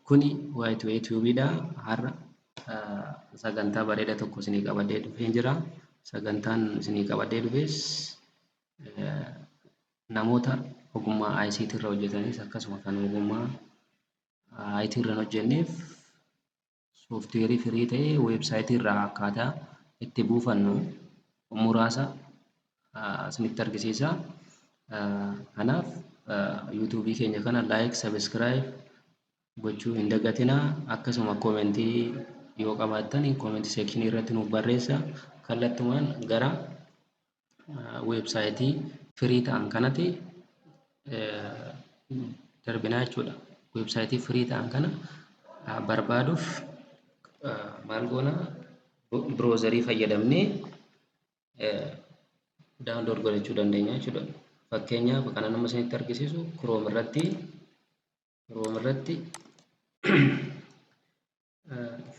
Kuni waayitoo yuutuubiidha. Har'a sagantaa bareeda tokko isinii qabadee dhufee jira. Sagantaan isinii qabadee dhufes namoota ogummaa ICT irra hojjetanis akkasuma kan ogummaa IT irra hojjenneef sooftiweerii firii ta'e weebsaayitii irraa akkaataa itti buufannu muraasa isinitti argisiisa. Kanaaf yuutuubii keenya kana laayik, sabiskiraayib gochuu hin dagatinaa. Akkasuma koomentii yoo qabaattan koomentii seekshinii irratti nuuf barreessa. Kallattumaan gara weebsaayitii firii ta'an kanati darbinaa jechuudha. Weebsaayitii firii ta'an kana barbaaduuf maal goona biroozarii fayyadamnee daawunlood godhachuu dandeenya jechuudha. Fakkeenyaaf kan amma isinitti argisiisu Chrome irratti Chrome irratti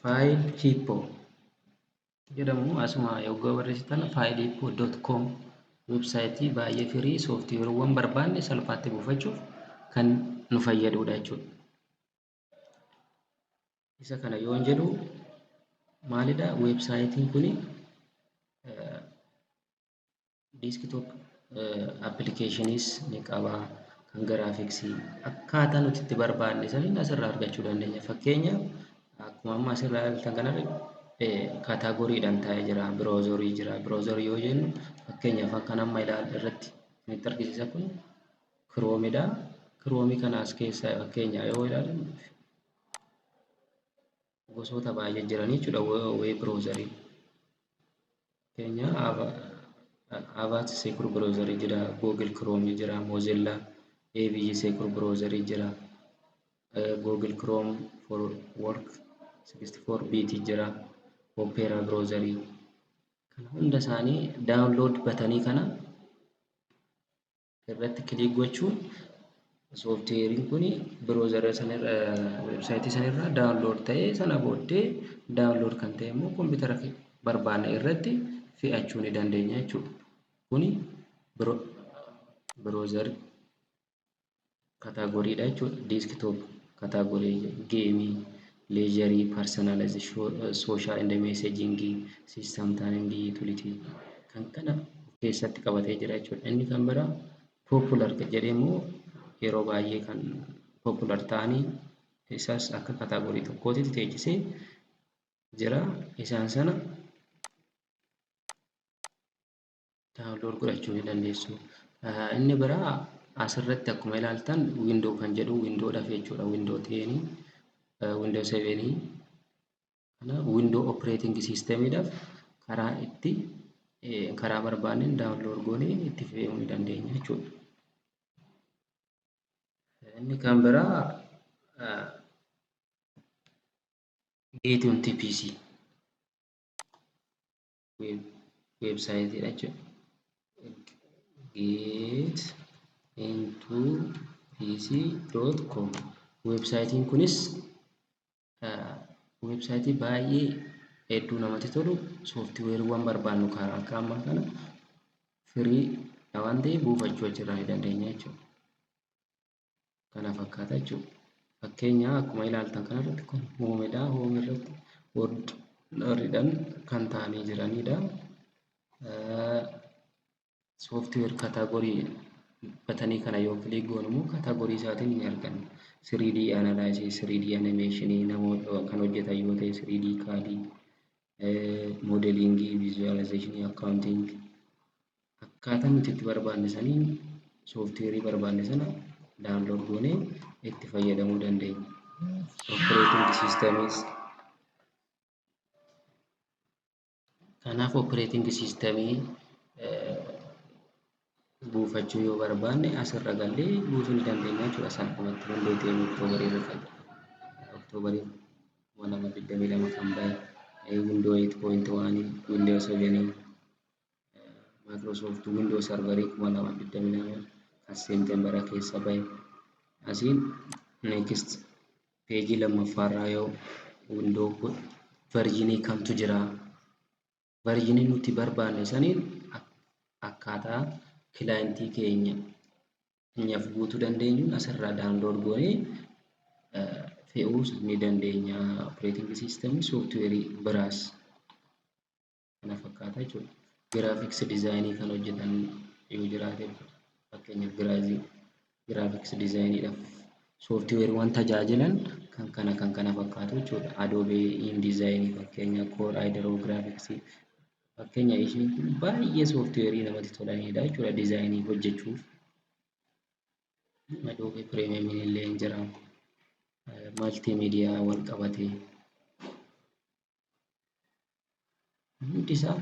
faayil hiippoo jedhamu asuma yogguu barreessitan faayil hiippoo doot koom websaayitii baay'ee firii sooftiweeriiwwan barbaanne salphaatti buufachuuf kan nu fayyadudha jechuudha. Isa kana yoon jedhu maalidha websaayitiin kuni Desktop applications ni qaba. Kan graphics akkaataa nuti itti barbaanne saniin asirraa argachuu dandeenya. Fakkeenyaaf akkuma amma asirraa ilaaltan kanarra kaataagoriidhaan taa'ee jira. Biroozorii jira. Biroozorii yoo jennu fakkeenyaaf kan amma ilaalle irratti kan itti argisiisa kun kiroomidha. Kiroomii kana as keessaa fakkeenyaa yoo ilaalle gosoota baay'ee jiran jechuudha web browseriin. Keenya Avast Secure Browser jira, Google Chrome jira, Mozilla, AVG Secure Browser jira, Google Chrome for Work 64 bit jira, Opera Browser. Kana hunda isaanii download batanii kana irratti kiliik gochuun sooftiweeriin kun biroozara sanirra websaayitii sanirra daawunlood ta'ee sana booddee daawunlood kan ta'e immoo kompiitara barbaanne irratti fe'achuu ni dandeenya jechuudha. Kuni biroozari Category dha jechuudha. Desktop category game, leisure, personalize, social and messaging, system timing, utility kan kana of keessatti qabatee jira jechuudha. Inni kan bira popular jedhee immoo yeroo baay'ee kan popular ta'anii isas akka category tokkootti teechisee jira. Isaan sana download godhachuu ni dandeessu. Inni biraa asirratti akkuma ilaaltan window kan jedhu windowdhaaf jechuudha. Window 10, window 7 kana window operating systemidhaaf karaa itti karaa barbaanneen download goonee itti fayyadamuu ni dandeenya jechuudha. Inni kan biraa geetuun TPC weebsaayitii dha jechuudha. Get into pc.com weebsaayitiin kunis weebsaayitii baay'ee hedduu namatti tolu sooftiweeriiwwan barbaannu kan akka ammaa kana firii waan ta'eef buufachuu achirraa ni dandeenya jechuudha. kana fakkaata jechuudha. Fakkeenyaa akkuma ilaaltan kanarratti kun hoomedha. Hoome irratti orderidhan kan taa'anii jiranidha. Sooftiweer kaataagorii batanii kana yoo kilik goonu immoo kaataagorii isaatiin ni arganna. 3D analysis, 3D animation namoota kan hojjetan yoo ta'e 3D kaadii, modeelingii, visualization, accounting akkaataa nuti itti barbaanne saniin sooftiweerii barbaanne sana daawunlood goonee itti fayyadamuu dandeenya. Operating systems kanaaf operating system buufachuu yoo barbaanne asirra gallee buusuu ni dandeenya jechuudha. Salphumatti hundee ta'een oktoobarii irra fayyada. Oktoobarii 2022 kan bahe Windows 8.1 Windows 7 Microsoft Windows Server 2022 kan Seepteembara keessa bahe asiin next peejii lammaffaarraa yoo windoo godhu verjinii kamtu jira verjinii nuti barbaanne saniin akkaataa kilaayentii keenya nyaf guutuu dandeenyuun asirraa daawunlood goonee fe'uus ni dandeenya operating system software biraas kana fakkaata jechuudha. Giraafiks dizaayinii kan hojjetan yoo jiraate fakkeenyaaf giraazii giraafiks dizaayiniidhaaf sooftiweeriiwwan tajaajilan kan kana kan kana fakkaatu jechuudha. Adoobee indizaayinii fakkeenya koor ayidaroo giraafiksii fakkeenya ishiin kun baay'ee sooftiweerii namatti tolanidha jechuudha dizaayinii hojjechuuf. Adoobee pireemiyeemiin illee hin jira. Maltiimiidiyaa wal qabatee. hundi isaa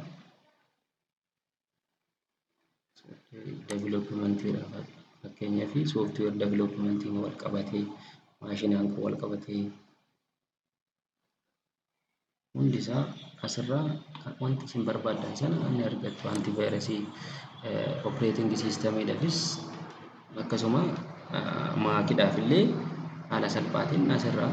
developmentiidhaaf fakkeenyaa fi sooftiweer developmentiin wal qabatee maashinaan kan wal qabatee hundi isaa asirraa wanti isin barbaadan sana ni argattu anti vaayirasii operating siistamiidhaafis akkasuma maakiidhaaf illee haala salphaatiin asirraa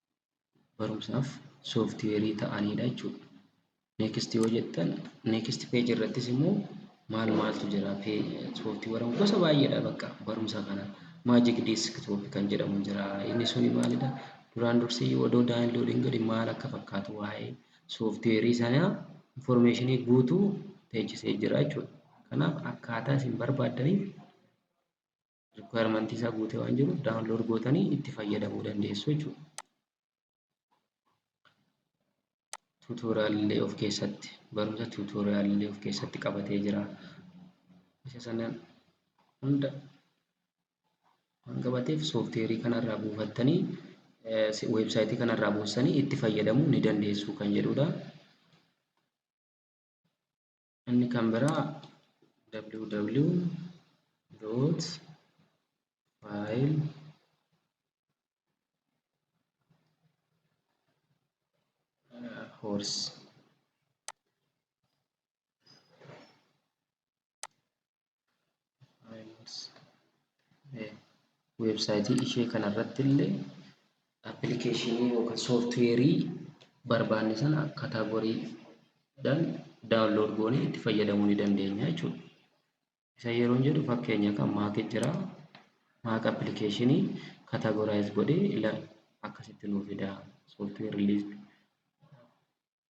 barumsaaf sooftiweerii ta'aniidha jechuudha. Next yoo jettan next page irrattis immoo maal maaltu jira sooftiweeroon gosa baay'eedha bakka barumsa kana magic desktop kan jedhamu jira inni suni maalidha duraan dursee yoo odoo download hin godhin maal akka fakkaatu waa'ee sooftiweerii sanaa informeeshinii guutuu teechisee jira jechuudha. Kanaaf akkaataa isin barbaaddaniif Rikwaayimantii isaa guutee waan jiruuf daawunlood gootanii itti fayyadamuu dandeessu jechuudha. Tuutooriyaalillee of keessatti barumsa tuutooriyaalillee of keessatti qabatee jira. Isa sana hunda waan qabateef soofteerii kanarraa buufattanii weebsaayitii kanarraa buussanii itti fayyadamuu ni dandeessu kan jedhudha. Inni kan biraa www dot file horse weebsaayitii ishee kanarratti illee appilikeeshinii yookaan sooftiweerii barbaanne sana kaataagoriidhaan daawunlood goonee itti fayyadamuu ni dandeenya jechuudha. Isa yeroo jedhu fakkeenya kan maaki jira. Maak appilikeeshinii kaataagoraayiz godhee akkasitti nuuf fidaa sooftiweerii liist.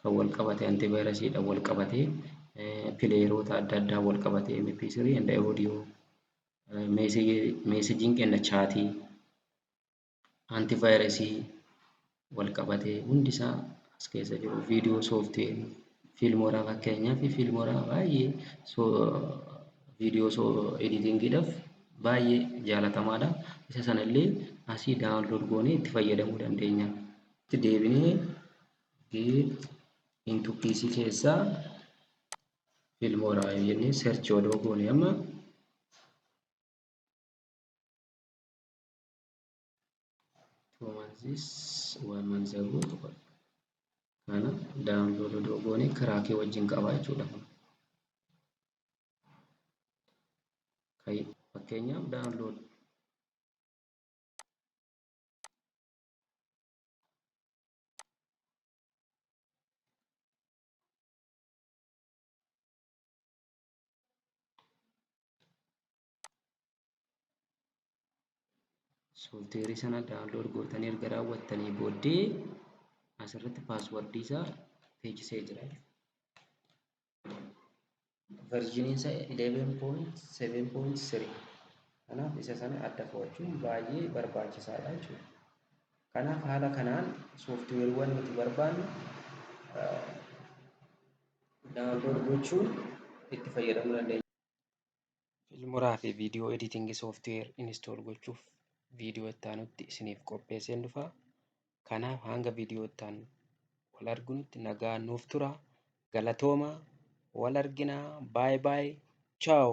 kan wal qabate antivirus dha wal qabate pileeroota adda addaa wal qabate mp3 and audio meesejiin kenna chaatii antivirus wal qabate hundi isaa as keessa jiru viidiyoo sooftiweer fiilmooraa fakkeenyaa fi fiilmooraa baay'ee viidiyoo soo editingiidhaaf baay'ee jaalatamaadha isa sana illee asii daawunlood goonee itti fayyadamuu dandeenya itti deebinee B into PC keessaa Filmora jennee search odoo goone amma two months is one month ago kana download odoo goone kiraakii wajjin qaba jechuudha. Fakkeenyaaf download soofteerii sana daawunlood gootanii erga raawwattanii booddee asirratti paaswardii isaa teechisee jira. version isa 11.7.3 kanaaf isa sana adda fo'achuun baay'ee barbaachisaadha jechuudha. Kanaaf haala kanaan sooftiweeriiwwan nuti barbaannu daawunlood gochuun itti fayyadamuu dandeenya. Filmuraa fi viidiyoo editing software install gochuuf viidiyoo itti aanutti isiniif qopheesseen dhufa. Kanaaf hanga viidiyoo itti aanu wal argunutti nagaa nuuf tura. Galatooma wal arginaa baay baay chaaw.